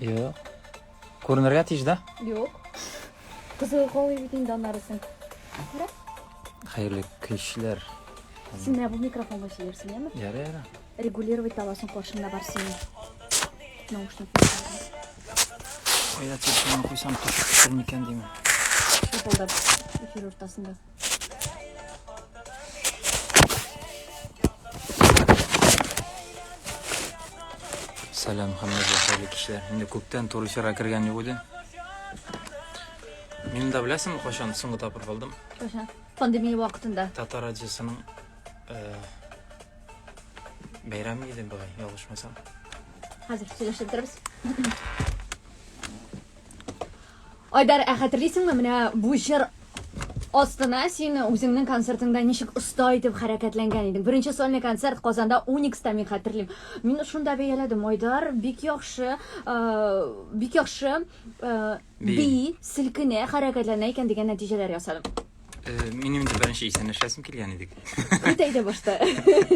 Юк. Күренергә тиеш да? Юк. Кызыл калый бит инде анарысын. Күрә? Хәерле кичләр. Син менә бу микрофонга сөйләрсең, яме? Яра, яра. Регулировать аласың каршында бар синең. Наушник. Кайда телефонны куйсам, төшер микән димә. Шапылдап эфир уртасында. Сәлам, хәммәгә хәерле кичләр. Инде күптән туры эфирга кергән юк иде. Мин дә беләсең, кайчан соңгы тапкыр булдым? Кайчан? Пандемия вакытында. Татар радиосының э, бәйрәме иде бугай, ялгышмасам. Хәзер сөйләшеп торабыз. Айдар, ә хәтерлисеңме, менә бу җыр астына син үзеңнең концертыңда ничек оста итеп хәрәкәтләнгән идең? Беренче сольный концерт Казанда Уникста мин хәтерлим. Мин шунда бәяләдем, Айдар бик яхшы, бик яхшы бии, селкенә, хәрәкәтләнә икән дигән нәтиҗәләр ясадым. Минем инде беренче исәнләшәсем килгән идек. Әйтә әйтә башта.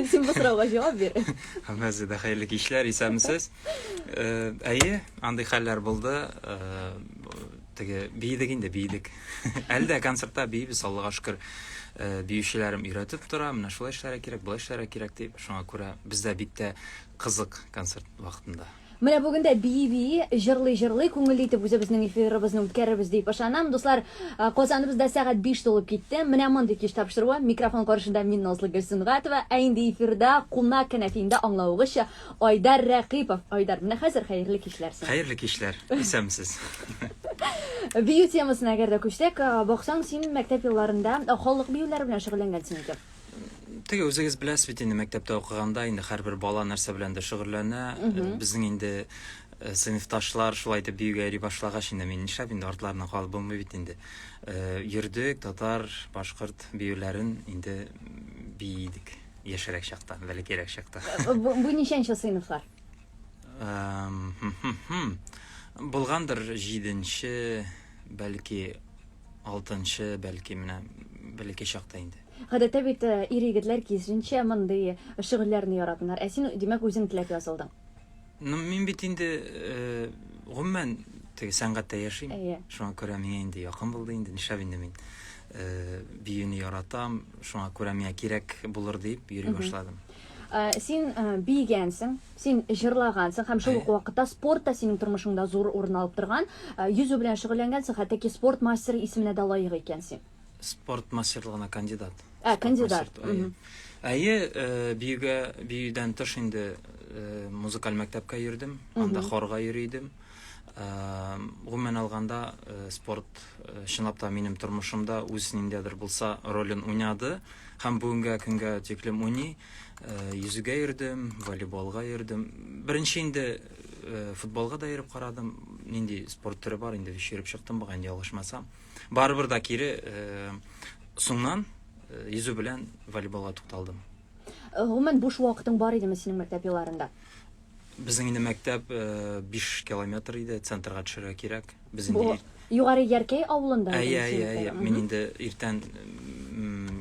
Син бу сорауга җавап бир. Һәммәсе дә хәерле кичләр, исәнмесез. Әйе, андый хәлләр булды. Теге биедек инде, биедек. Әле дә концертта биебез, Аллага шөкер. Биючеләрем өйрәтеп тора, менә шулай эшләргә кирәк, болай эшләргә кирәк дип. Шуңа күрә бездә бик тә кызык концерт вакытында. Менә бүген дә бии-бии, җырлый-җырлый, күңелле итеп үзебезнең эфирыбызны үткәрербез дип ышанам. Дуслар, Казаныбыз да сәгать биш тулып китте. Менә мондый кич тапшыруы. Микрофон каршында мин, Назлы Гөл Сөнгатова. Ә инде эфирда кунак кенәфиендә аңлавыгызча, Айдар Рәкыйпов. Айдар, менә хәзер хәерле кичләр сиңа. Хәерле кичләр. Исәнмесез. Бию темасына әгәр дә күчсәк, баксаң, син мәктәп елларында халык биюләре белән шөгыльләнгәнсең икән. Теге үзегез беләсез бит инде мәктәптә укыганда инде һәрбер бала нәрсә беләндер шөгыльләнә. Безнең инде э, сыйныфташлар шулай итеп биюгә йөри башлагач инде мин нишләп инде артларына калып булмый бит инде. Э, Йөрдек татар, башкорт биюләрен инде бии идек яшьрәк чакта, бәләкәйрәк чакта. Э, Бу, бу ничәнче сыйныфлар? Эм, хм, хм, хм. Булгандыр җиденче, бәлки алтынчы, бәлки менә бәләкәй чакта инде. Гадәттә бит ир-егетләр киезенчә мондый шөгыльләрне яратмыйлар. Ә син, димәк, үзең теләп язылдың. Ну, мин бит инде, гомумән, теге сәнгатьтә яшим. Әйе. Шуңа күрә миңа инде якын булды инде, нишләп инде мин биюне яратам, шуңа күрә миңа кирәк булыр дип йөри башладым. Э, син э, бийгәнсең, син җырлагансың һәм шул ук вакытта спорт та синең тормышыңда зур урын алып торган. Э, йөзү белән шөгыльләнгәнсең, хәтта ки спорт мастеры исеменә дә лаек икәнсең. Спорт мастерлыгына кандидат. Ә, кандидат. Әйе, э, биюгә, биюдән тыш инде э, музыкаль мәктәпкә йөрдем, анда хорга йөри идем. Э, гомумән алганда, спорт чынлап та минем тормышымда үз ниндидер булса ролен уйнады һәм бүгенгә көнгә тиклем уйный. Йөзүгә йөрдем, волейболга йөрдем. Беренче инде футболга да йөреп карадым. Нинди спорт төре бар инде, йөреп чыктым, бугай ялгышмасам. Барыбер да кире соңнан йөзү белән волейболга тукталдым. Гомумән буш вакытың бар идеме синең мәктәп елларында? Безнең инде мәктәп 5 километр иде, центрга төшәргә кирәк. Без инде Югары Яркәй авылында идеме? Әйе, әйе, әйе. Мин инде иртән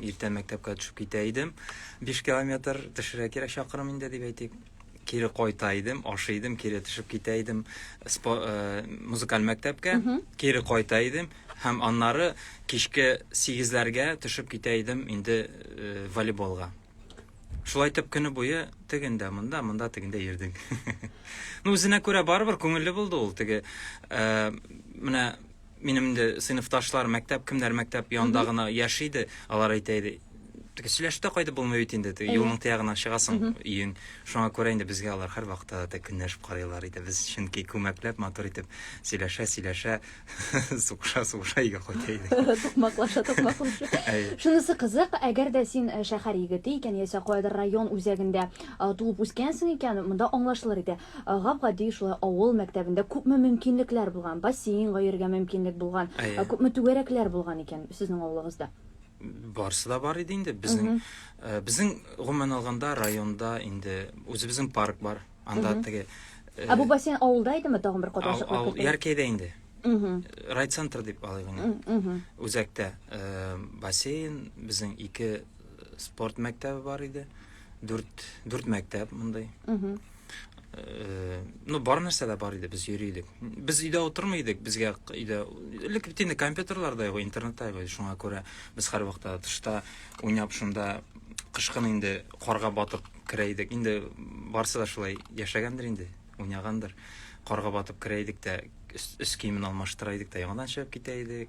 иртән мәктәпкә төшеп китә идем. 5 километр төшәргә кирәк чакрым инде дип әйтик. кире кайта идем, ашый идем, кире төшеп китә идем спо, э, музыкаль мәктәпкә, mm -hmm. кире кайта идем һәм аннары кичке 8-ләргә төшеп китә идем инде э, волейболга. Шулай итеп көне буе тегендә, монда, монда тегендә йөрдек. ну, үзенә күрә барыбер күңелле булды ул теге. Э, менә Минем дә сыйныфташлар мәктәп, кемнәр мәктәп янында гына яши иде, алар әйтә иде, теге сөйләшүдә кайтып булмый бит инде, теге юлның тиягына чыгасың өең. Шуңа күрә инде безгә алар һәрвакытта да көнләшеп карыйлар иде. Без чөнки күмәкләп, матур итеп сөйләшә, сөйләшә, сугыша, сугыша өйгә кайта идек. Тукмаклаша, тукмаклаша. Шунысы кызык, әгәр дә син шәһәр егете икән яисә каядыр район үзәгендә туып үскәнсең икән, монда аңлашылыр иде. Гап-гади шулай авыл мәктәбендә күпме мөмкинлекләр булган, бассейнга йөрергә мөмкинлек булган, Әйе. күпме түгәрәкләр булган икән сезнең авылыгызда? Барысы да бар иде инде. Безнең э, безнең гомумән алганда районда инде үзебезнең парк бар. Анда теге э, Ә бу бассейн авылда идеме? Тагын бер кат ачыклык кертәле. Яркәйдә инде. Райцентр дип алыйк инде. Үзәктә э, бассейн, безнең ике спорт мәктәбе бар иде. Дүрт, дүрт мәктәп мондый. Э, ну бар нәрсә дә бар иде без йөри идек без өйдә утырмый идек безгә өйдә элек бит инде компьютерлар да юк интернет та юк шуңа күрә без һәрвакытта тышта уйнап шунда кышкын инде карга батып керә идек инде барсы да шулай яшәгәндер инде уйнагандыр карга батып керә идек тә өс киемен алмаштыра идек тә яңадан чыгып китә идек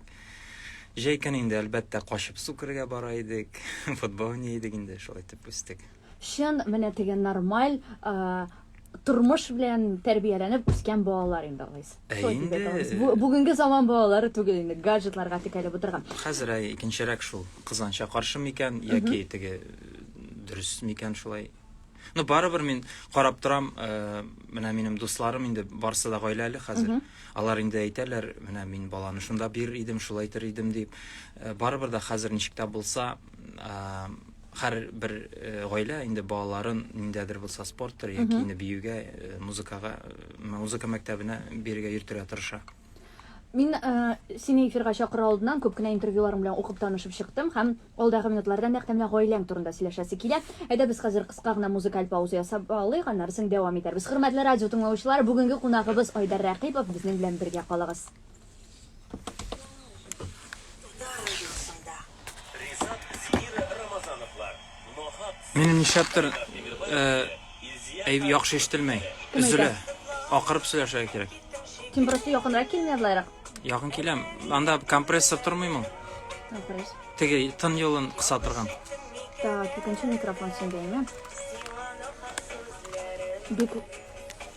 җәй көне инде әлбәттә качып су керергә бара идек футбол уйный идек инде шулай итеп үстек Чын, менә теге нормаль тормыш белән тәрбияләнеп үскән балалар инде алайс. Ә инде бүгенге заман балалары түгел инде, гаджетларга текәлеп утырган. Хәзер әй икенчерәк шул. Кызганча каршы микән яки теге дөрес микән шулай? Ну, барыбер мин карап торам, э, менә минем дусларым инде барсы да гаиләле хәзер. Алар инде әйтәләр, менә мин баланы шунда бир идем, шулайтыр идем дип. Э, барыбер да хәзер ничек тә булса, һәр бер э, гаилә инде балаларын ниндәдер булса спорттыр яки инде биюгә э, музыкага э, музыка мәктәбенә бирергә йөртергә тырыша Мин ә, сине эфирга чакыру алдыннан күп кенә интервьюларың белән укып танышып чыктым һәм алдагы минутларда нәкъ менә гаиләң турында сөйләшәсе килә. Әйдә без хәзер кыска гына музыкаль пауза ясап алыйк, аннары соң дәвам итәрбез. Хөрмәтле радио тыңлаучылар, бүгенге кунагыбыз Айдар Рәкыйпов безнең белән бергә калыгыз. Минем нишләптер э, әй яхшы ишетелмәй. Өзелә. Акырып сөйләшә кирәк. Син просто якынрак килмә булайрак. Якын киләм. Анда компрессор тормыймы? Компрессор. Теге тын юлын кыса торган. Так, икенче микрофон синдәме? Бик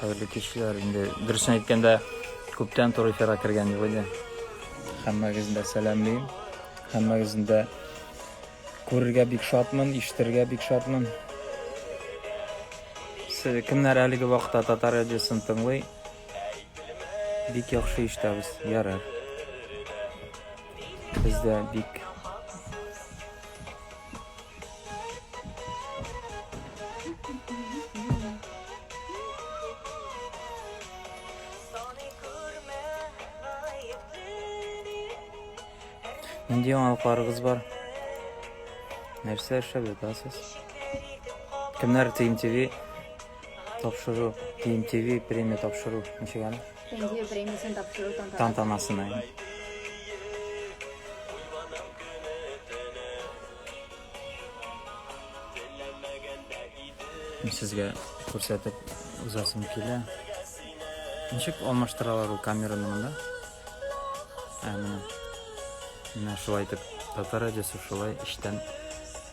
Хәерле кичләр. Инде дөресен әйткәндә, күптән туры эфирга кергән юк иде. Хәммәгезне дә сәламлим. Хәммәгезне дә күрергә бик шатмын, ишетергә бик шатмын. Сез кемнәр әлеге вакытта татар радиосын тыңлый? Бик яхшы ишетәбез. Ярар. Без дә бик Нинди яңалыкларыгыз бар? Нәрсә эшләп ятасыз? Кемнәр TMTV тапшыру, TMTV премия тапшыру ничек әле? Премьер премиясен тапшыру тантанасының сезгә күрсәтеп узасым килә ничек алмаштыралар ул камераны монда ә менә менә шулай итеп татар радиосы шулай эчтән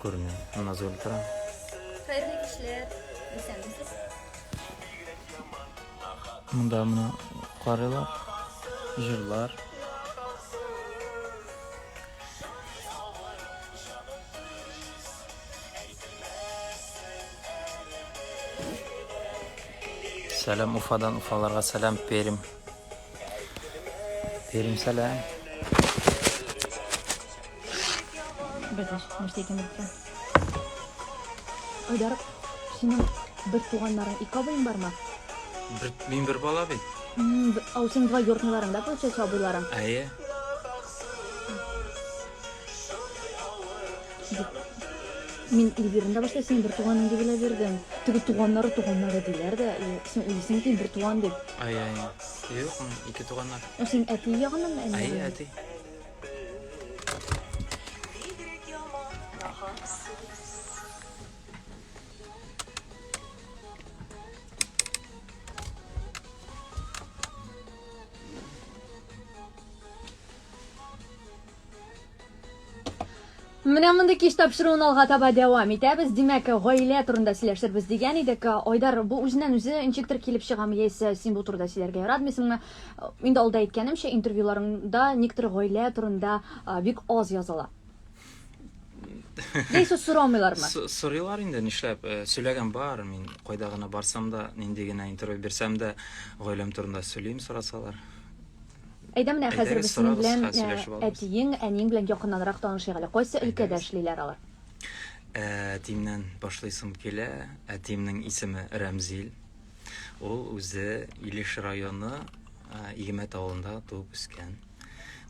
күренә назгөл тора хәерле кичләр исәнмесез Монда моны карыйлар, җырлар. Сәлам Уфадан, Уфаларга сәлам, Пермь. Пермь сәлам. Бәдәш, нәрсә икән бу? Айдар, синең бер туганнарың ике абыең бармы? Бер, мин бер бала бит. М, б- Ау синең два йортныйларың да получается абыйларың. Әйе. Мин Эльвираны да башта синең бер туганың дип уйлап йөрдем. Теге туганнары туганнары диләр дә, и, син уйлыйсың ки бер туган дип. Ай, ай. Юк, м, ике туганнар. Ә синең әти ягыннан әни? Әй, ягыннан? әти. Менә мондый кич тапшыруын алга таба дәвам итәбез. Димәк, гаилә турында сөйләшербез дигән идек. Айдар, бу үзеннән үзе ничектер килеп чыгамы, яисә син бу турыда сөйләргә яратмыйсыңмы? Инде алда әйткәнемчә, интервьюларыңда никтер гаилә турында бик аз языла. Яисә сорамыйлармы? Сорыйлар инде, нишләп? Э, сөйләгән бар, мин кайда гына барсам да, нинди генә интервью бирсәм дә, гаиләм турында сөйлим, сорасалар. Әйдә менә хәзер без синең белән әтиең, әниең белән якыннанрак танышыйк әле. Кайсы өлкәдә эшлиләр алар? Әтиемнән башлыйсым килә. Әтиемнең исеме Рәмзил. Ул үзе Илеш районы Игемәт авылында туып үскән.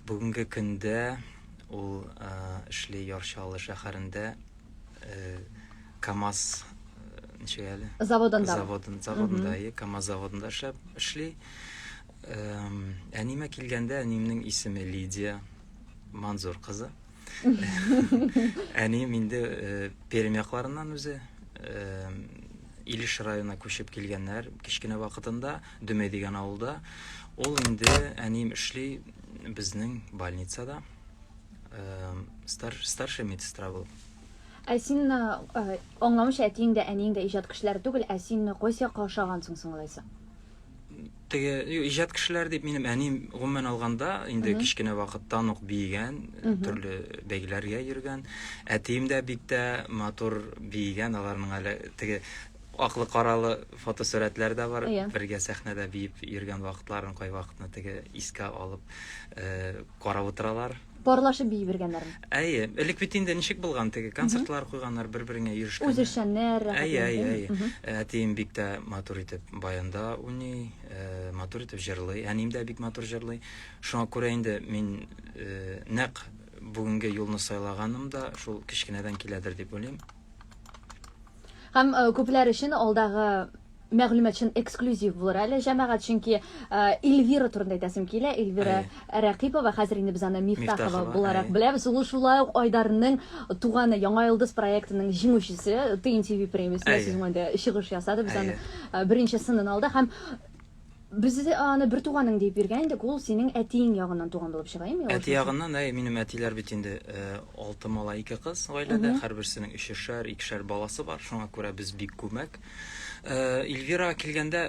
Бүгенге көндә ул эшли Яр Чаллы шәһәрендә КАМАЗ ничек әле? Заводында. Заводында, КАМАЗ заводында эшләп эшли. Әнимә килгәндә, әнимнең исеме Лидия Манзур кызы. Әнием инде э, Пермь якларыннан үзе. Э, Илеш районына күчеп килгәннәр кечкенә вакытында, Дөмәй дигән авылда. Ул инде әнием эшли безнең больницада. Э, стар, старший медсестра булып. Ә син э, э, аңламыйча әтиең дә, әниең дә иҗат кешеләре түгел, ә син кайсы якка ошагансың соң алайса? теге иҗат кешеләр дип минем әним гомумән алганда инде кечкенә вакыттан ук биегән төрле бәйгеләргә йөргән әтием дә бик тә матур биегән аларның әле теге аклы каралы фотосурәтләр дә бар yeah. Иә. бергә сәхнәдә биеп йөргән вакытларын кайвакытны теге искә алып э, карап утыралар Парлашып бии биргәннәрме? Әйе, элек бит инде ничек булган теге концертлар куйганнар бер-береңә йөрешкән. Үзешчәннәр рәхәт. Әйе, әйе, әйе. Әтием бик тә матур итеп баянда уйный, э, матур итеп җырлый. Әнием дә бик матур җырлый. Шуңа күрә инде мин э, нәкъ бүгенге юлны сайлаганым да шул кечкенәдән киләдер дип уйлыйм. Һәм э, күпләр өчен алдагы мәгълүмат өчен эксклюзив булыр әле җәмәгать, чөнки Эльвира турында әйтәсем килә. Эльвира Рәкыйпова, хәзер инде без аны Мифтахова буларак беләбез. Ул шулай ук Айдарның туганы Яңа йолдыз проектының җиңүчесе ТНТВ премиясендә сезон чыгыш ясады. Без аны беренче сынын алды һәм Без аны бертуганың диеп биргән идек, ул синең әтиең ягыннан туган булып чыга, имеш. Әти ягыннан, әй, минем әтиләр бит инде алты малай, ике кыз гаиләдә, һәрберсенең өчешәр, икешәр баласы бар, шуңа күрә без бик күмәк. Эльвирага килгәндә,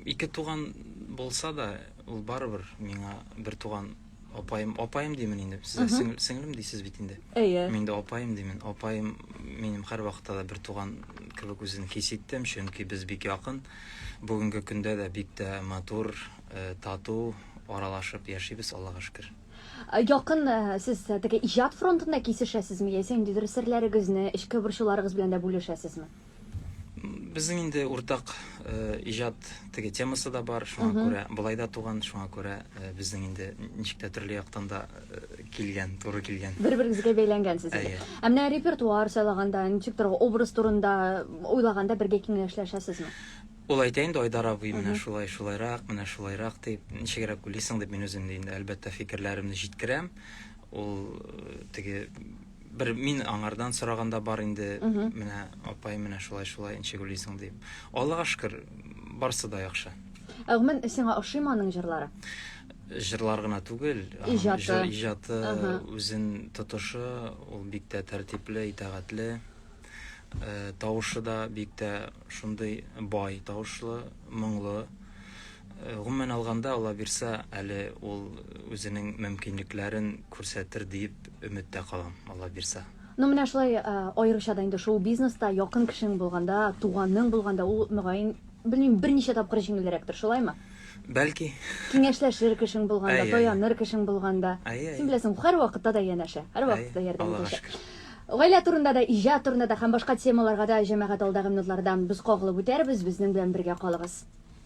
ике туган булса да, ул барыбер миңа бертуган. апаем апаем димин инде сиз сиңел сеңлем дисез бит инде әйе мин дә апаем димин апаем минем һәр вакытта да бер туган кебек үзен хис иттем чөнки без бик якын бүгенге көндә дә бик тә матур э, тату аралашып яшибез аллага шөкер Якын э, сез э, теге иҗат фронтында кисешәсезме яисә ниндидер серләрегезне эчке борчуларыгыз белән дә бүлешәсезме Безнең инде уртак э, иҗат теге темасы да бар, шуңа күрә былай да туган, шуңа күрә э, безнең инде ничек тә төрле яктан да э, килгән, туры килгән. Бер-берегезгә бәйләнгәнсез. Әйе. Ә менә репертуар сайлаганда, ничек торган образ турында уйлаганда бергә киңәшләшәсезме? Ул әйтә инде Айдар абый, менә шулай, шулайрак, менә шулайрак дип, ничегрәк уйлыйсың дип мин үзем инде әлбәттә фикерләремне җиткерәм. Ул э, теге бер мин аңардан сораганда бар инде менә апай менә шулай шулай ничек уйлыйсың дип аллага шөкер барысы да яхшы ә гомумән сиңа ошыймы аның җырлары җырлар гына түгел иҗаты иҗаты үзен тотышы ул бик тә тәртипле итәгатьле э, тавышы да бик тә шундый бай тавышлы моңлы Гомумән алганда, аллабирса, әле ул үзенең мөмкинлекләрен күрсәтер диеп өметтә калам, аллабирса. Ну, менә шулай, аеруча да инде шоу-бизнеста якын кешең булганда, туганың булганда, ул, мөгаен, белмим, берничә тапкыр җиңелрәктер, шулаймы? Бәлки. Киңәшләшер кешең булганда, таяныр кешең булганда. Син беләсең, һәр вакытта да янәшә, һәр вакытта да ярдәм итәчәк. Гаилә турында да, иҗат турында да һәм башка темаларга да, җәмәгать, алдагы минутларда без кагылып үтәрбез, безнең белән бергә калыгыз.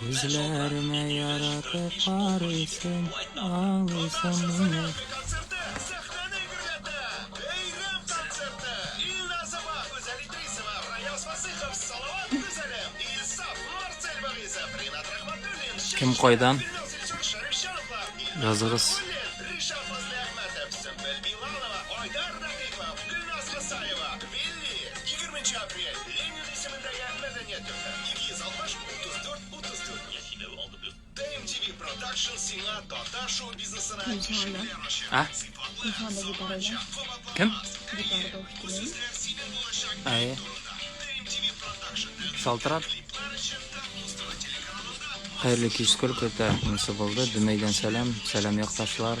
Күзләремә яратып карыйсың, алыйсың мине. Кем кайдан? Языгыз. Шалтырат. Хәерле кич, сколько это нәрсә булды? Дөмәйдән сәлам, сәлам якташлар.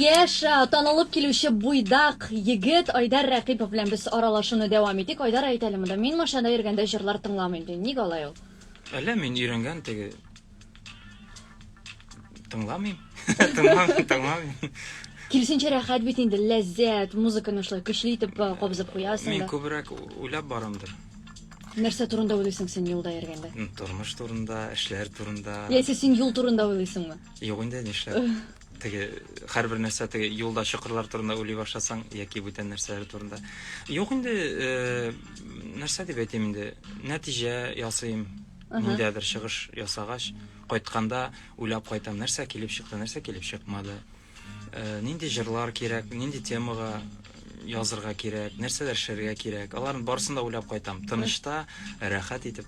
Яшь, а, танылып килүче буйдак егет Айдар Рәкыйпов белән без аралашуны дәвам итик. Айдар, әйт әле монда, мин машинада йөргәндә җырлар тыңламыйм, ди. Ник алай ул? Әллә мин өйрәнгән теге Тыңламыйм. Тыңламыйм, тыңламыйм. Киресенчә рәхәт бит инде, ләззәт, музыканы шулай көчле итеп э, кабызып куясың Мин да. күбрәк уйлап барамдыр. Нәрсә турында уйлыйсың син юлда йөргәндә? М, Тормыш турында, эшләр турында. Яисә син юл турында уйлыйсыңмы? Юк инде нишләп. Теге һәрбер нәрсә теге юлда чокырлар турында уйлый башласаң яки бүтән нәрсәләр турында. Юк инде, э, нәрсә дип әйтим инде, нәтиҗә ясыйм. Миндә бер чыгыш ясагач, кайтканда уйлап кайтам, нәрсә килеп чыкты, нәрсә килеп чыкмады. Э, нинди җырлар кирәк, нинди темага язырга кирәк, нәрсәләр шәргә кирәк. Аларны барысын да уйлап кайтам. Тынышта, рәхәт итеп.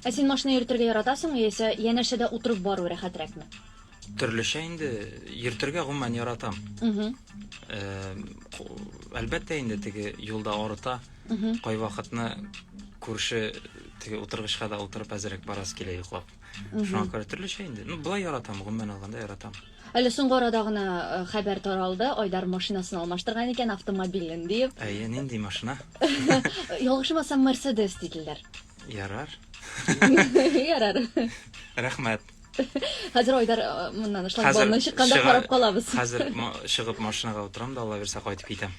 Ә син машина йөртергә яратасыңмы яисә янәшәдә утырып бару рәхәтрәкме? Төрлечә инде йөртергә гомумән яратам. Угу. Э, әлбәттә инде теге юлда арыта. Угу. Кай вакытны күрше теге утыргычка да утырып әзерәк барасы килә йоклап. Шуңа күрә төрлечә инде. Ну, былай яратам, гомумән алганда яратам. Әле соңгы арада гына э, хәбәр таралды, Айдар машинасын алмаштырган икән, автомобилен диеп. Әйе, нинди машина? Ялгышмасам, Мерседес диделәр. Ярар. Ярар. Рәхмәт. Хәзер Айдар э, моннан шлагбаумнан чыкканда карап калабыз. Хәзер чыгып машинага утырам да Алла бирсә кайтып китәм.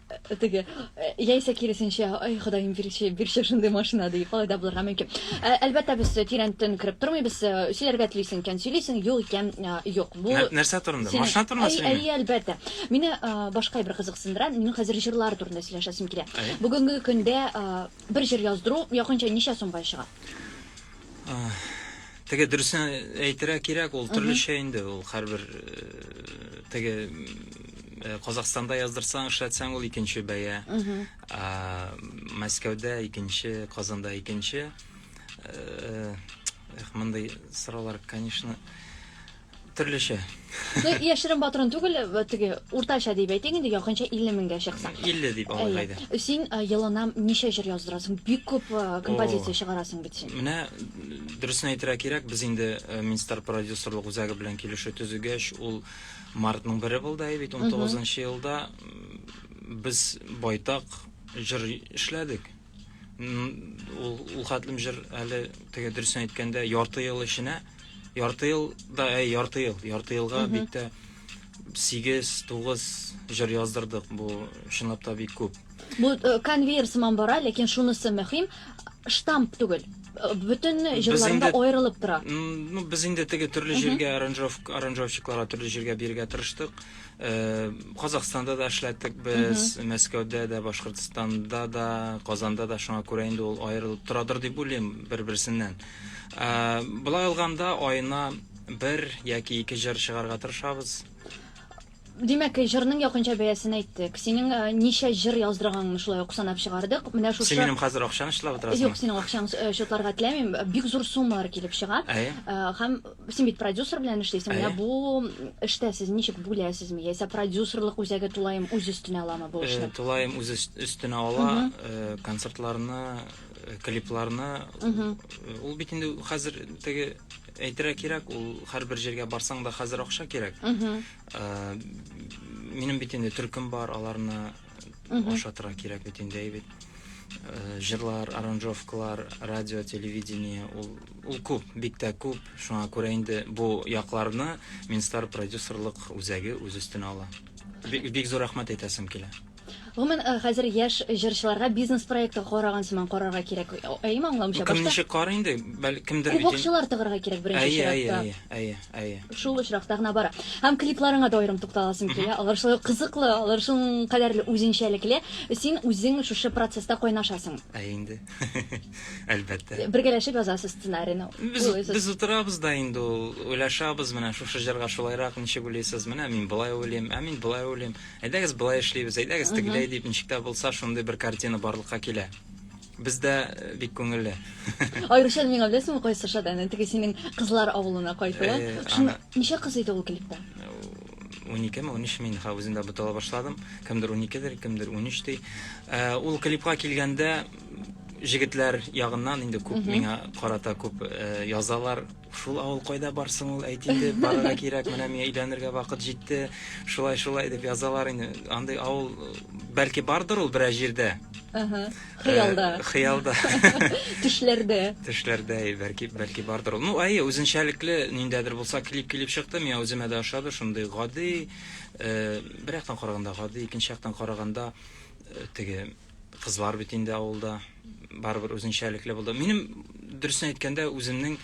Э, теге э, яисә киресенчә ай ходаем бирче бирче шундый машина дип алай да булырга мөмкин әлбәттә без тирән төн кереп тормыйбыз сөйләргә телисең икән сөйлисең юк икән юк бу нәрсә турында машина турында сөйлим әйе әлбәттә мине башка бер кызыксындыра минем хәзер җырлар турында сөйләшәсем килә бүгенге көндә бер җыр яздыру якынча ничә сумга чыга Теге дөресен әйтергә кирәк, ул төрлечә инде, ул һәрбер э, теге э, Казахстанда яздырсаң, эшләтсәң, ул икенче бәя. А, Мәскәүдә икенче, Казанда икенче. Э, Эх, мондый сораулар, конечно, Төрлечә. Ну, яшерен патрон түгел, теге уртача дип әйтик инде, якынча 50 меңгә чыкса. 50 дип алыйк әйдә. Син елына ничә җыр яздырасың? Бик күп композиция чыгарасың бит син. Менә дөресен әйтергә кирәк, без инде Минстар продюсерлык үзәге белән килешү төзегәч, ул мартның бере булды бит, 19 елда без байтак җыр эшләдек. ул ул хәтлем җыр әле теге дөресен әйткәндә ярты ел эченә ярты ел да әй ярты ел ярты елга бик тә сигез тугыз җыр яздырдык бу чынлап та бик күп бу э, конвейер сыман бара ләкин шунысы мөһим штамп түгел э, бөтен җырларында аерылып тора ну без инде теге төрле җиргә аранжировщикларга төрле җиргә бирергә тырыштык Казахстанда да эшләттек без, Мәскәүдә дә, Башкортстанда да, Казанда да, шуңа күрә инде ул аерылып торадыр дип уйлыйм бер-берсеннән. Болай алганда аена бер яки ике җыр чыгарга тырышабыз. Димәк, җырның якынча бәясен әйттек. Синең ничә җыр яздырганыңны шулай ук санап чыгардык. Менә шушы. Син минем хәзер акчаны чытлап утырасыңмы? Юк, синең акчаңны чотларга теләмим. Бик зур суммалар килеп чыга. Әйе. Һәм Син бит продюсер белән эшлисең. Менә бу эштә сез ничек бүләсезме? Яисә продюсерлык үзәге тулаем үз өстенә аламы бу эшне? Тулаем үз өстенә ала, концертларны, клипларны. Ул бит инде хәзер теге әйтергә кирәк, ул һәрбер җиргә барсаң да хәзер акча кирәк. Минем бит инде төркем бар, аларны ашатырга кирәк бит инде әйбит э, җырлар аранжировкалар радио телевидение ул ул күп бик тә күп шуңа күрә инде бу якларны минстар продюсерлык үзәге үз өстенә ала бик, бик зур рәхмәт әйтәсем килә Гомумән, э, хәзер яшь җырчыларга бизнес проекты караган сыман карарга кирәк. Әйеме аңламыйча? Кем ничек карый инде? Бәлкемдер бит. Кулакчылар тыгырга кирәк беренче чиратта. Әйе, әйе, әйе. Әйе. Шул очракта гына бара. Һәм клипларыңа да аерым тукталасым килә. Алар шулай кызыклы, алар шул кадәрле үзенчәлекле. Син үзең шушы процесста кайнашасың. Әйе инде. Әлбәттә. Бергәләшеп язасыз сценарийны. Без без утырабыз да инде ул, уйлашабыз, менә шушы җырга шулайрак ничек уйлыйсыз? Менә мин болай уйлыйм, ә мин болай уйлыйм. Әйдәгез болай эшлибез, әйдәгез тегеләй дип, ничек тә булса шундый бер картина барлыкка килә. Бездә э, бик күңелле. Аеруча миңа беләсеңме кайсы шат әнә теге синең кызлар авылына кайтуы. Э, Шуны ана- ничә кыз иде ул клипта? 12 ме 13 мин ха үзем дә бутала башладым. Кемдер 12-дер, кемдер 13 ди. Э, Ул клипка килгәндә м, җегетләр ягыннан инде күп миңа карата күп э, язалар. Шул авыл кайда бар соң ул, әйт инде, барырга кирәк, менә миңа өйләнергә вакыт җитте, шулай, шулай дип язалар инде. Андый авыл, бәлки, бардыр ул берәр җирдә. Ага, хыялда. Э, хыялда. Төшләрдә. Төшләрдә, бәлки, бәлки бардыр ул. Ну, әйе, үзенчәлекле ниндәдер булса клип килеп чыкты, миңа үземә дә ошады, шундый гади, э, бер яктан караганда гади, икенче яктан караганда э, теге Кызлар бит инде авылда, барыбер үзенчәлекле булды. Минем дөресен әйткәндә, үземнең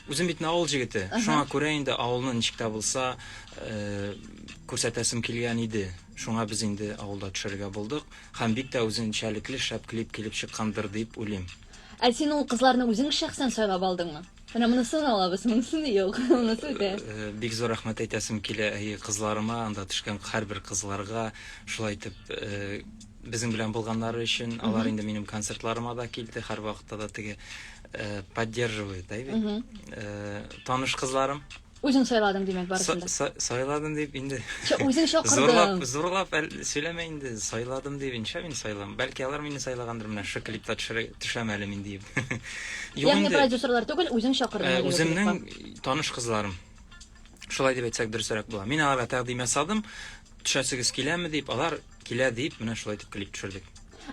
үзем бит авыл җегете. Шуңа күрә инде авылны ничек тә булса э, күрсәтәсем килгән иде. Шуңа без инде авылда төшерергә булдык. Һәм бик тә үзенчәлекле шәп клип килеп чыккандыр дип уйлыйм. Ә син ул кызларны үзең шәхсән сайлап алдыңмы? Менә монысын алабыз, монысын юк, монысы үтә. Э, бик зур рәхмәт әйтәсем килә әйе кызларыма, анда төшкән һәрбер кызларга шулай итеп э, Безнең белән булганнары өчен, алар инде минем концертларыма да килде, һәрвакытта да теге э, поддерживает, да, бит. Э, таныш кызларым. Үзең сайладың, димәк, барысын да. Са- са- Сайладым дип инде. Ча- Үзең чакырдың. Зурлап, зурлап әл- сөйләмә инде. Сайладым дип инша мин сайлам. Бәлки алар мине сайлагандыр менә шы клипта төшерә- төшәм әле мин диеп. Юк Ягъни инде, продюсерлар түгел, үзең э, чакырдың. әлеге клипка. үземнең таныш кызларым. Шулай дип әйтсәк дөресрәк була. Мин аларга тәкъдим ясадым. Төшәсегез киләме дип, алар килә дип, менә шулай итеп клип төшердек.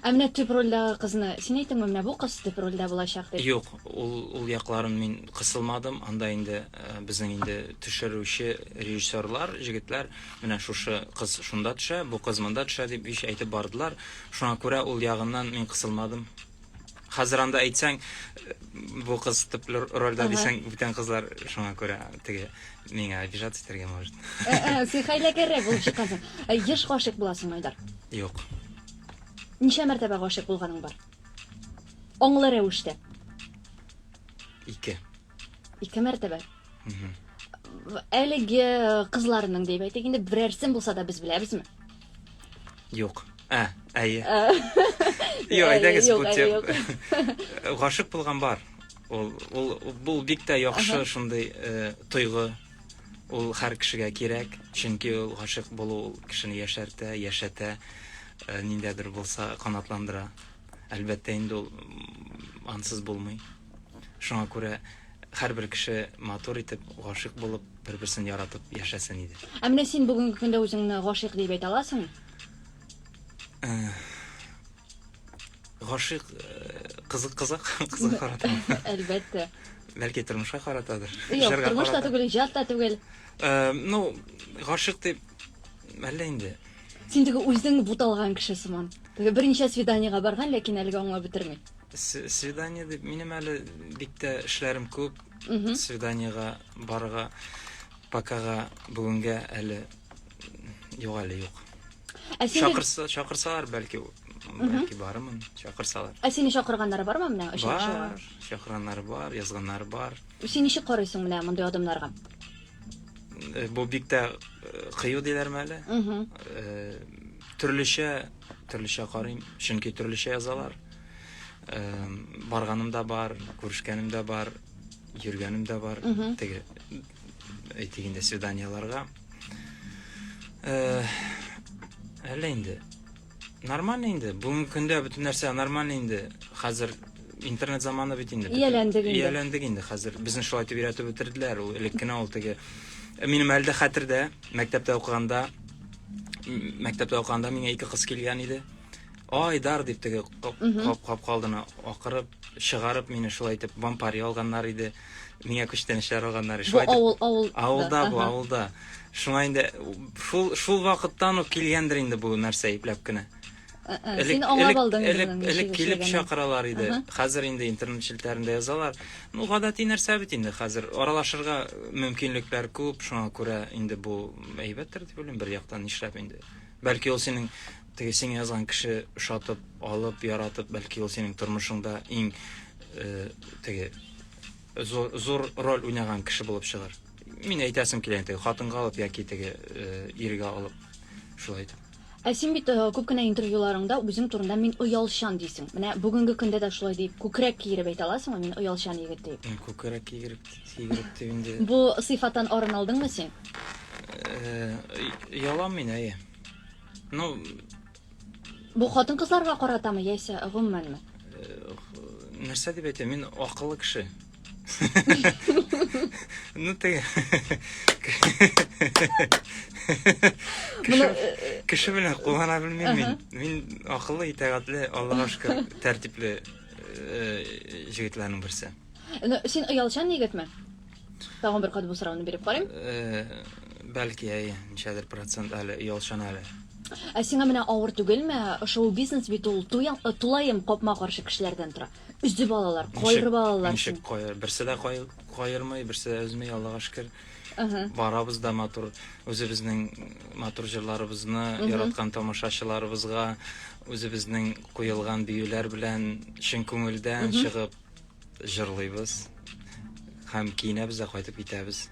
Ә менә төп рольдәге кызны син әйттеңме, менә бу кыз төп рольдә булачак дип? Юк, ул ул якларын мин кысылмадым, анда инде безнең инде төшерүче режиссерлар, җегетләр, менә шушы кыз шунда төшә, бу кыз монда төшә дип ич әйтеп бардылар, шуңа күрә ул ягыннан мин кысылмадым. Хәзер анда әйтсәң, бу кыз төп рольдә дисәң, бүтән кызлар шуңа күрә теге миңа обижаться итәргә может. Син хәйләкәррәк булып чыккансың. Еш гашыйк буласың, Айдар? Юк. Ничә мәртәбә гашыйк булганың бар? Аңлы рәвештә. Ике. Ике мәртәбә. Әлеге кызларның дип әйтик, инде берәрсен булса да без беләбезме? Юк. Ә, әйе. Юк, әйдәгез бу тип. Гашык булган бар. Ул ул бу бик тә яхшы шундый э, тойгы. Ул һәр кешегә кирәк, чөнки ул гашык булу кешене яшәртә, яшәтә, э, ниндәдер булса канатландыра. Әлбәттә инде ул ансыз булмый. Шуңа күрә һәрбер кеше матур итеп, гашыйк булып, бер-берсен яратып яшәсен иде. Ә менә син бүгенге көндә үзеңне гашыйк дип әйтә аласың? Э, гашыйк э, кызык кызык кызык карата. Әлбәттә. Бәлки тормышка каратадыр. Юк, тормыш та түгел, иҗат та түгел. Э, ну, гашыйк дип әллә инде. Син теге үзең буталган кеше сыман. Теге берничә свиданиегә барган, ләкин әлегә аңлап бетерми. Свидание дип, минем әле бик тә эшләрем күп. Свиданиега барырга покага бүгенгә әле юк әле юк. Ә сине... Чакырса, чакырсалар, бәлки, бәлки барымын, чакырсалар. Ә сине чакырганнары бармы менә очрашуга? Бар, чакырганнары бар, язганнары бар. Син ничек карыйсың менә мондый адымнарга? Э, бу бик тә э, кыю диләрме әле? Э, төрлечә Төрлечә карыйм, чөнки төрлечә язалар. Барганым да бар, күрешкәнем дә бар, йөргәнем дә бар. Теге әйтик инде свиданияларга. Әллә инде нормально инде. Бүгенге көндә бөтен нәрсә нормально инде. Хәзер интернет заманы бит инде. Ияләндек инде. Ияләндек инде хәзер. Безне шулай итеп өйрәтеп бетерделәр. Ул элек кенә ул теге минем әле дә хәтердә. Мәктәптә укыганда мәктәптә укыганда миңа ике кыз килгән иде. Айдар дип теге кап-кап калдыны акырып, чыгарып мине шулай итеп вампари алганнар иде. Миңа күчтәнәчләр алганнар иде. Шулай авыл авыл. Авылда бу, авылда. Шуңа инде шул шул вакыттан ук килгәндер инде бу нәрсә ипләп кенә. Син аңлап алдың инде моның ничек Элек килеп чакыралар иде. Хәзер инде интернет челтәрендә язалар. Ну, гадәти нәрсә бит инде хәзер. Аралашырга мөмкинлекләр күп, шуңа күрә инде бу әйбәттер дип уйлыйм, бер яктан нишләп инде. Бәлки ул синең теге сиңа язган кеше ошатып, алып, яратып, бәлки ул синең тормышыңда иң э, теге зур, зур роль уйнаган кеше булып чыгар. Мин әйтәсем килә инде, хатынга алып яки теге э, иргә алып. Шулай итеп. Ә син бит күп кенә интервьюларыңда үзең турында мин оялчан дисең. Менә бүгенге көндә дә шулай дип, күкрәк киереп әйтә аласыңмы, мин оялчан егет дип? Э, күкрәк киереп, киереп дип инде. Бу сыйфаттан арын алдыңмы син? Э, Ялам мин, әйе. Ну, Бу хатын-кызларга каратамы яисә гомумәнме? Э, нәрсә дип әйтә, мин акыллы кеше. Ну ты... Кеше, кеше белән куллана белмим мин. Мин акыллы, итәгатьле, Аллага шөкер, тәртипле җегетләрнең берсе. Ну, син оялчан егетме? Тагын бер кат бу сорауны биреп карыйм. Бәлки, әй, ничәдер процент әле оялчан әле. Ә сиңа менә авыр түгелме? Шоу-бизнес бит ул, тулаем капма-каршы кешеләрдән тора. Өзеп алалар, кайрып алалар. Ничек кайрып? Берсе дә кайырмый, берсе дә өзми, Аллага шөкер. Барабыз да матур үзебезнең матур җырларыбызны яраткан тамашачыларыбызга үзебезнең куелган биюләр белән чын күңелдән чыгып җырлыйбыз. Һәм киенәбез дә кайтып китәбез.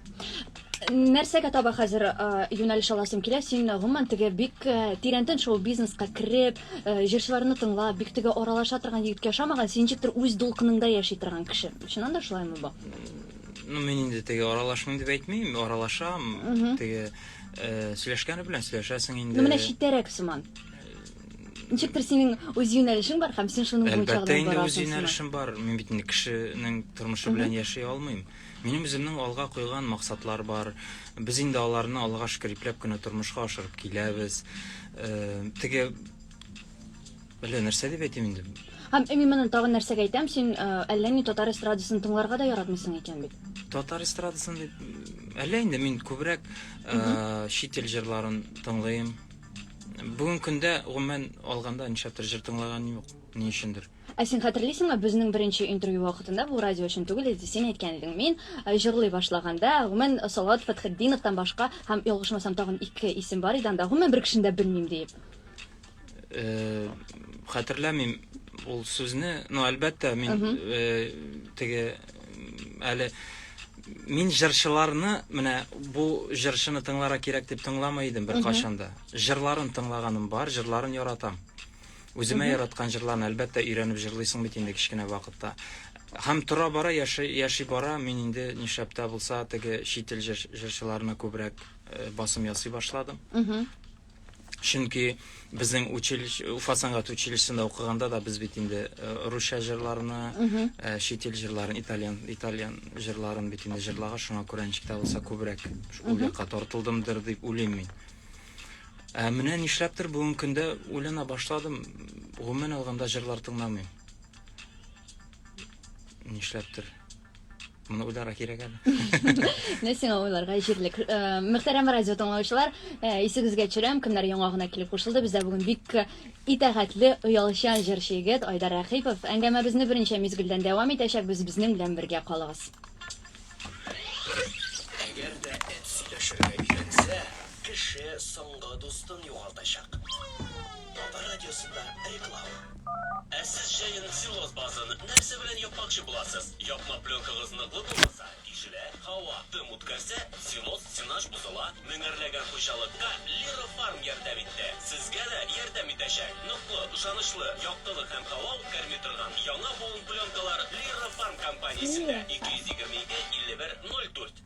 Нәрсәгә таба хәзер юнәлеш аласың килә? Син гомумән теге бик тирәнтен шоу-бизнеска кереп, җырчыларны тыңлап, бик теге аралаша торган егеткә ошамаган, син ничектер үз дулкыныңда яши торган кеше. Чыннан да шулаймы бу? Ну, мин инде теге аралашмыйм дип әйтмим, аралашам. Теге сөйләшкәне белән сөйләшәсең инде. Ну, менә читтәрәк сыман. Ничектер синең үз юнәлешең бар һәм син шуның буенча гына барасың. Әлбәттә, үз юнәлешем бар. Мин бит инде кешенең тормышы белән яши алмыйм. Минем үземнең алга куйган максатлар бар. Без инде аларны, Аллага шөкер, ипләп кенә тормышка ашырып киләбез. Теге әллә нәрсә дип әйтим инде. Һәм именно тагын нәрсәгә әйтәм, син әллә ни татар эстрадасын тыңларга да яратмыйсың икән бит. Татар эстрадасын дип әллә инде мин күбрәк чит ил җырларын тыңлыйм. Бүгенге көндә, гомумән алганда, нишләптер җыр тыңлаганым юк, ни өчендер. Ә син хәтерлисеңме, безнең беренче интервью вакытында, бу радио өчен түгел иде, син әйткән идең, мин җырлый башлаганда, гомумән, Салават Фәтхетдиновтан башка, һәм, ялгышмасам, тагын ике исем бар иде анда, гомумән, бер кешене дә белмим, диеп. Хәтерләмим ул сүзне, но, әлбәттә, мин теге Әле мин җырчыларны менә бу җырчыны тыңлара кирәк дип тыңламый идем беркайчан да. Җырларын тыңлаганым бар, җырларын яратам. Үземә яраткан җырларны әлбәттә өйрәнеп җырлыйсың бит инде кечкенә вакытта. Һәм тора-бара яши, яши бара, мин инде нишләп тә булса теге чит ил җырчыларына күбрәк э, басым ясый башладым. Чөнки безнең училище, Уфа сәнгать училищесында укыганда да без бит инде э, русча җырларны, э, чит ил җырларын, итальян, итальян җырларын бит инде җырлага, шуңа күрә ничек тә булса күбрәк ул якка тартылдымдыр дип уйлыйм мин. Ә менә нишләптер бүгенге көндә уйлана башладым, гомумән алганда җырлар тыңламыйм. Нишләптер. Моны уйларга кирәк әле. Менә сиңа уйларга җирлек. Э, Мөхтәрәм радио тыңлаучылар, э, исегезгә төшерәм, кемнәр яңа гына килеп кушылды, бездә бүген бик итәгатьле, оялчан җырчы егет Айдар Рәхипов. Әңгәмәбезне беренче мизгелдән дәвам итәчәкбез, безнең белән бергә калыгыз. Әгәр дә эт сөйләшергә өйрәнсә, кеше соңгы дустын югалтачак. Татар радиосында реклама. Ә сез җәен целлоз базын нәрсә белән япмакчы буласыз? Япма пленкагыз ныклы булмаса, тишелә, һава, дым үткәрсә, целлоз стенач бозыла, меңәрләгән хуҗалыкка Лира Фарм ярдәм итте. Сезгә дә ярдәм итәчәк! Ныклы, ышанычлы, яктылык һәм һава үткәрми торган яңа буын пленкалар Лира Фарм компаниясендә, 222 51 04.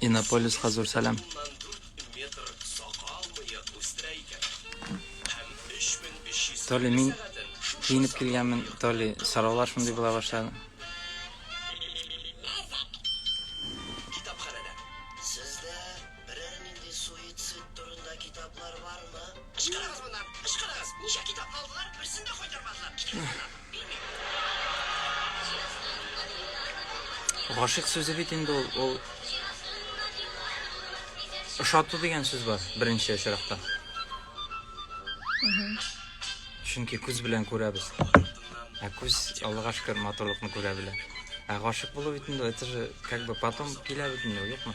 Иннополиска зур сәлам. Толи, мин киенеп килгәнмен, Толи, сораулар шундый була башлады. Берәр нинди суицид турында китаплар бармы? Ычкырыгыз моннан! Ычкырыгыз! Ничә китапны алдылар, берсен дә кайтармадылар! Китегез моннан! Гашыйк сүзе бит инде ул, ул ошату дигән сүз бар беренче очракта. Чөнки күз белән күрәбез. Ә күз Аллага шөкер матурлыкны күрә белә. Ә гашык булу бит инде это же как бы потом килә бит инде, юкмы?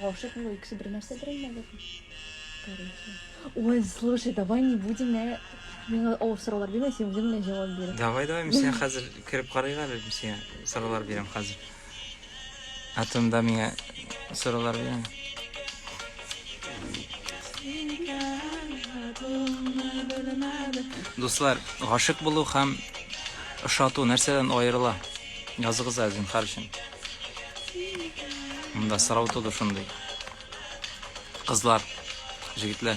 Гашык булу икесе бер нәрсәдер инде әле. Ой, слушай, давай не будем на... Миңа авыр сораулар бирмә, син үзең генә җавап бир. Давай, давай, мин сиңа хәзер кереп карыйк әле, мин сиңа сораулар бирәм хәзер. Ә тында миңа сораулар бирәм. Дуслар, гашык булу һәм ошату нәрсәдән аерыла? Языгыз әзин, хәршин. Монда сорау туды шундый. Кызлар, җегетләр.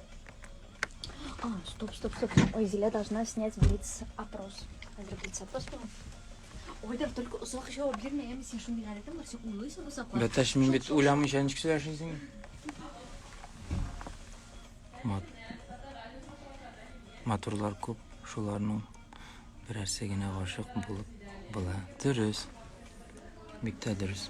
А, стоп, стоп, стоп. Ой, Зиля должна снять блиц опрос. Хәзер блиц опрос булган. Ой, да только озак җавап бирмә, әмма син шундый гадәтең бар, син уйлыйсың озаклап. Бәтәш, мин бит уйламыйча ничек сөйләшәсең? Мат. Матурлар күп, шуларның берәрсе генә гашык булып була. Дөрес. Бик тә дөрес.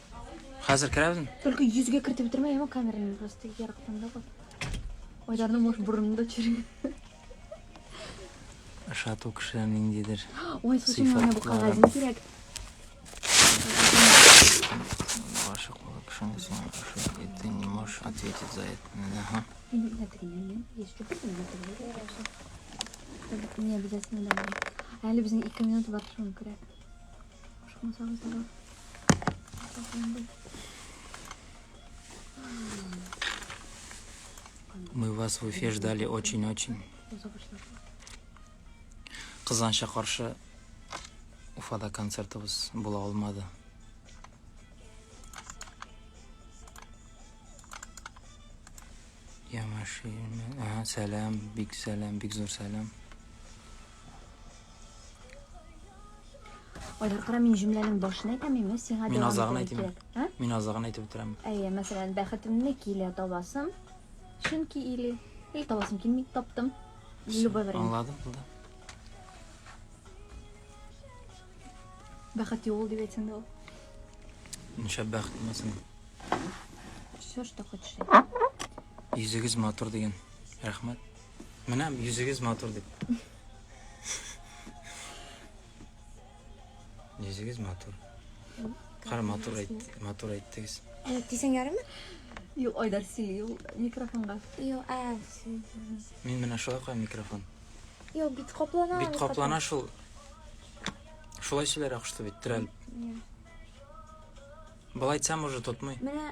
Хәзер керәбезме? Только йөзгә кертеп бетермә, яма камераны просто ярыктан да куй. Айдарны муш бурынны да чиргә. Ашату кешеләр ниндидер. Ой, слушай, менә бу кагазны кирәк. Ваша кулак шунысы ашат итте, не можешь ответить за это. Ага. Не обязательно домой. Әле безнең 2 минут бар шуны күрә. Мы вас в Уфе ждали очень-очень. Кызганча каршы Уфада концертыбыз була алмады. Я машина. Ага, сәлам, бик сәлам, бик зур сәлам. Алар кара мин җөмләнең башын әйтәм, имә сиңа Мин азагын әйтәм. Ә? Мин азагын әйтеп бетерәм. Әйе, мәсәлән, бәхетемне килә табасым. Чөнки или или табасым килми, таптым. Любой вариант. Аңладым булды. Бәхет юл дип әйтсәң дә ул. Ничә бәхет мәсен. Все, что хочешь. Йөзегез матур дигән. Рәхмәт. Менә йөзегез матур дип. Йөзегез матур. Кара матур әйт, матур әйттегез. Э, Дисең ярымы? Юк, Айдар сөйли ул микрофонга. Юк, ә. Мин менә шулай куям микрофон. Юк, бит каплана. Бит каплана шул. Шулай сөйләр акышты бит, терәлеп. Былай айтсам уже тотмый. Менә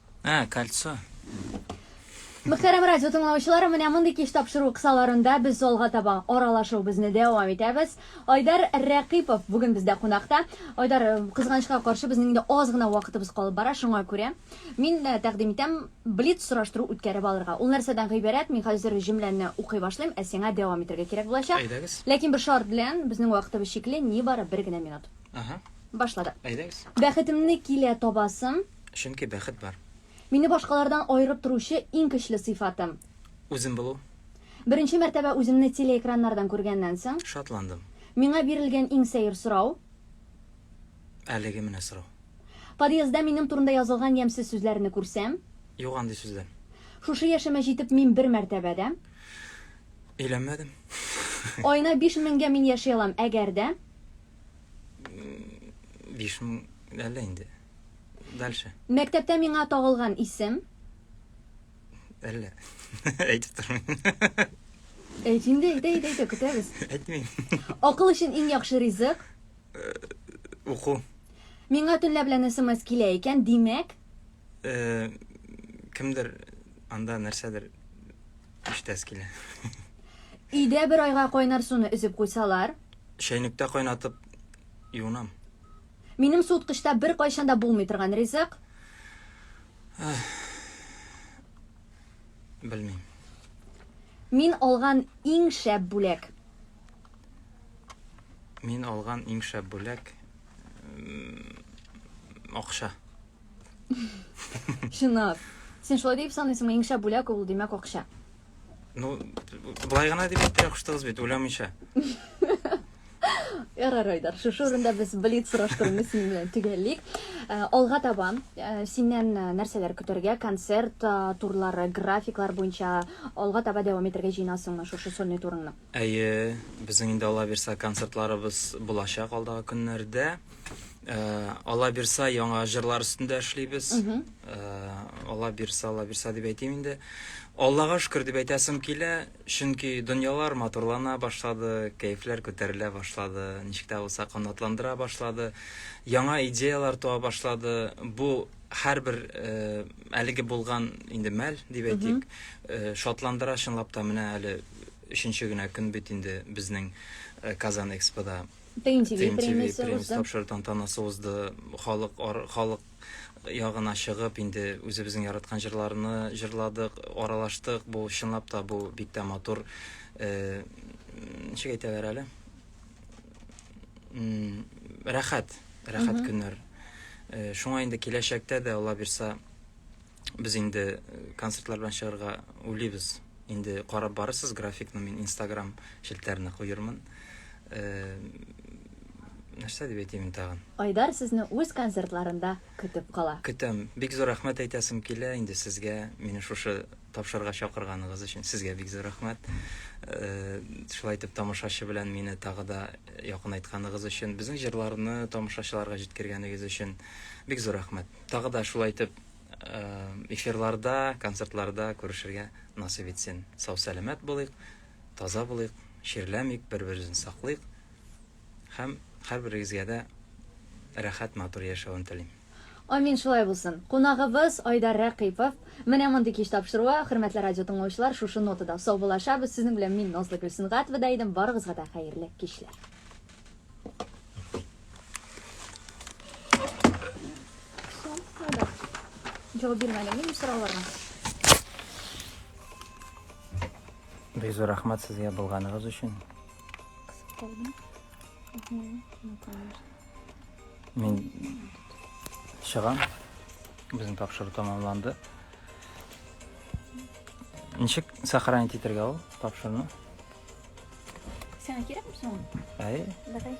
А, кольцо. Мөхтәрәм радио тыңлаучылары, менә мондый кич тапшыру кысаларында без залга таба аралашуыбызны дәвам итәбез. Айдар Рәкыйпов бүген бездә кунакта. Айдар, э, кызганычка каршы, безнең инде аз гына вакытыбыз калып бара, шуңа күрә мин э, тәкъдим итәм блиц сораштыру үткәреп алырга. Ул нәрсәдән гыйбарәт? Мин хәзер җөмләне укый башлыйм, ә сиңа дәвам итәргә кирәк булачак. Әйдәгез. Ләкин бер шарт белән, безнең вакытыбыз чикле, нибары бер генә минут. Ага. Башладык. Әйдәгез. Бәхетемне килә табасым. Чөнки бәхет бар. Мине башкалардан аерып торучы иң көчле сыйфатым. Үзем булу. Беренче мәртәбә үземне телеэкраннардан күргәннән соң. Шатландым. Миңа бирелгән иң сәер сорау. Әлеге менә сорау. Подъездда минем турында язылган ямьсез сүзләрне күрсәм. Юк андый сүзләр. Шушы яшемә җитеп мин бер мәртәбә дә. Өйләнмәдем. Аена биш меңгә мин яши алам, әгәр дә. Биш мең әллә инде. Дальше. Мәктәптә миңа тагылган исем? Әллә. Әйтеп тормыйм. Әйт инде, әйт, әйт, әйт, көтәбез. Әйтмим. Акыл өчен иң яхшы ризык? Э, уку. Миңа төнлә белән смс килә икән, димәк? Э, кемдер анда нәрсәдер иштәс килә. Өйдә бер айга кайнар суны өзеп куйсалар? Чәйнектә кайнатып юынам. Минем суыткычта беркайчан да булмый торган ризык. Белмим. Мин алган иң шәп бүләк. Мин алган иң шәп бүләк акча. Чынлап. Син шулай дип саныйсыңмы? Иң шәп бүләк ул, димәк, акча. Ну, былай гына дип әйттерә куштыгыз бит, уйламыйча. Ярар, Айдар, шушы урында без блиц сораштыруны синең белән төгәллик. Э, алга таба э, синнән э, нәрсәләр көтәргә? Концерт турлары, графиклар буенча алга таба дәвам итәргә җыенасыңмы шушы сольный турыңны? Әйе, безнең инде алла бирса концертларыбыз булачак алдагы көннәрдә. Э, ала бирса яңа җырлар өстендә эшлибез э, ала бирса ала бирса дип әйтим инде аллага шөкер дип әйтәсем килә чөнки дөньялар матурлана башлады кәефләр күтәрелә башлады ничек тә булса канатландыра башлады яңа идеялар туа башлады бу һәрбер э, әлеге булган инде мәл дип әйтик шатландыра чынлап та менә әле өченче генә көн бит инде безнең казан экспода ТНТВ ТНТВ премиясе премиясе узды. тапшыру тантанасы узды. Халык ар- халык ягына чыгып, инде үзебезнең яраткан җырларны җырладык, аралаштык. Бу чынлап та бу бик тә матур э, ничек әйтәләр әле? М, Рәхәт, рәхәт көннәр. Э, Шуңа инде киләчәктә дә Алла бирса Без инде э, концертлар белән чыгарга уйлыйбыз. Инде карап барырсыз графикны, мин Instagram челтәренә куермын. Э, нәрсә дип әйтим тагын? Айдар сезне үз концертларында көтеп кала. Көтәм. Бик зур рәхмәт әйтәсем килә инде сезгә, мине шушы тапшырга чакырганыгыз өчен. Сезгә бик зур рәхмәт. Э, шулай итеп тамашачы белән мине тагы да якынайтканыгыз өчен, безнең җырларны тамашачыларга җиткергәнегез өчен бик зур рәхмәт. Тагы да шулай итеп эфирларда, концертларда күрешергә насыйп итсен. Сау-сәламәт булыйк, таза булыйк, чирләмик, бер-беребезне саклыйк һәм һәрберегезгә дә рәхәт матур яшәвен телим. Амин, шулай булсын. Кунагыбыз Айдар Рәкыйпов. Менә мондый кич тапшыруы, хөрмәтле радио тыңлаучылар, шушы нотада саубуллашабыз. Сезнең белән мин Назлы Гөлсенгатова да идем. Барыгызга да хәерле кичләр. Җавап бирмәдем, мин сорауларга. Бик зур рәхмәт сезгә булганыгыз өчен. Мин чыгам. Безнең тапшыру тәмамланды. Ничек сохранить итәргә ул тапшыруны? Сиңа кирәкме соң? Әй. Давай.